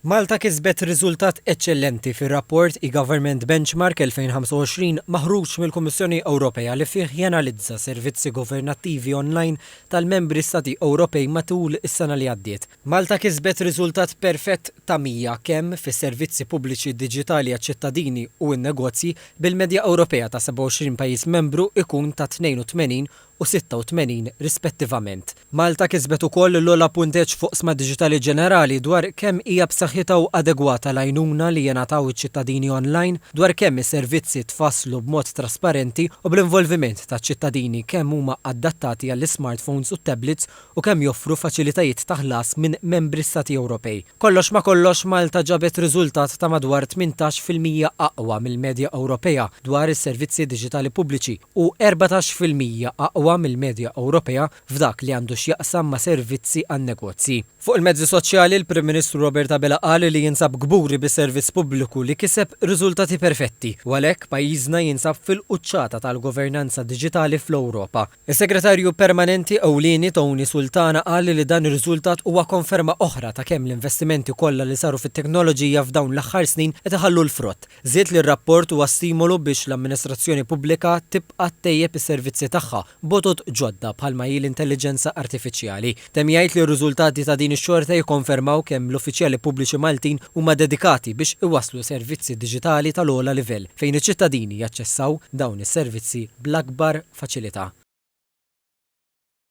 Malta kisbet riżultat eċċellenti fir-rapport e-Government Benchmark 2025 maħruġ mill-Kummissjoni Ewropea li fih janalizza servizzi governattivi online tal-membri Stati Ewropej matul is-sena li għaddiet. Malta kisbet riżultat perfett ta' 100 kemm fis-servizzi pubbliċi diġitali għaċ-ċittadini u n-negozji, bil-medja Ewropea ta' 27 pajjiż membru ikun ta' 82 u 86 rispettivament. Malta kisbet ukoll l-ogħla punteġġ f'oqsma diġitali ġenerali dwar kemm hija b'saħħitha u adegwata l-għajnuna li jingħataw iċ-ċittadini online, dwar kemm is-servizzi tfasslu b'mod trasparenti u bl-involviment taċ-ċittadini, kemm huma adattati għall-ismartphones u t-tablets u kemm joffru faċilitajiet ta' ħlas minn Membri Stati Ewropej. Kollox ma' kollox, Malta ġabet riżultat ta' madwar tmintax fil-mija aqwa mill-medja Ewropea dwar is-servizzi diġitali pubbliċi u erbatax fil-mija aqwa mill-medja Ewropea f'dak li għandu x'jaqsam ma' servizzi għan-negozji. Fuq il-mezzi soċjali, il-Prim Ministru Robert Abela qal li jinsab kburi bis-servizz pubbliku li kiseb riżultati perfetti u għalhekk pajjiżna jinsab fil-quċċata tal-governanza diġitali fl-Ewropa. Is-Segretarju Permanenti Ewlieni Tony Sultana qal li dan ir-riżultat huwa konferma oħra ta' kemm l-investimenti kollha li saru fit-teknoloġija f'dawn l-aħħar snin qed iħallu l-frott. Żied li r-rapport huwa stimolu biex l-amministrazzjoni pubblika tibqa' ttejjeb is-servizzi tagħha b'għodod ġodda bħalma hi l-intelliġenza artifiċjali. Temm jgħid li r-riżultati ta' din ix-xorta jikkonfermaw kemm l-uffiċjali pubbliċi Maltin huma dedikati biex iwasslu servizzi diġitali tal-ogħla livell fejn iċ-ċittadini jaċċessaw dawn is-servizzi bl-akbar faċilità.